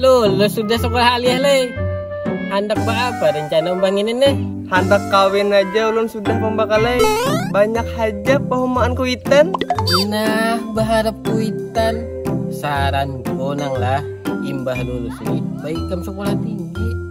lulus sudah sekolah alih leh handak apa rencana umbang ini nih handak kawin aja ulun sudah pembakalai banyak aja pehumaan kuitan nah berharap kuitan saran konang lah imbah lulus ini baik kamu sekolah tinggi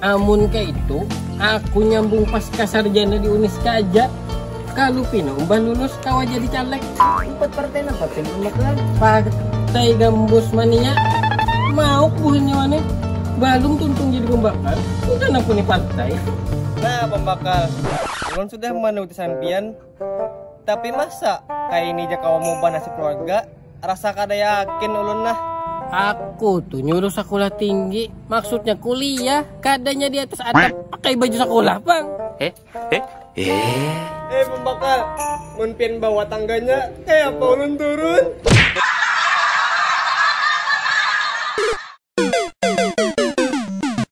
Amun kaitu, aku nyambung paska sarjana di Uniska aja. Kalu pina umbah lulus kawa jadi caleg. Umpat partai napa pian Bang Baklan? Partai Gambus mania. Mauk buhannya wani. Balum tuntung jadi pambakal, sudah nang puni partai. Nah pambakal, ulun sudah manuruti sampiyan. Tapi masa kaya ini ja kawa maubah nasib keluarga, rasa kada yakin ulun nah. Aku tu nyuruh sakulah tinggi, maksudnya kuliah, kadanya di atas atap pakai baju sakulah pang. Eh, eh, eh. Eh pambakal, mun pian bawa tangganya, kaya apa ulun turun?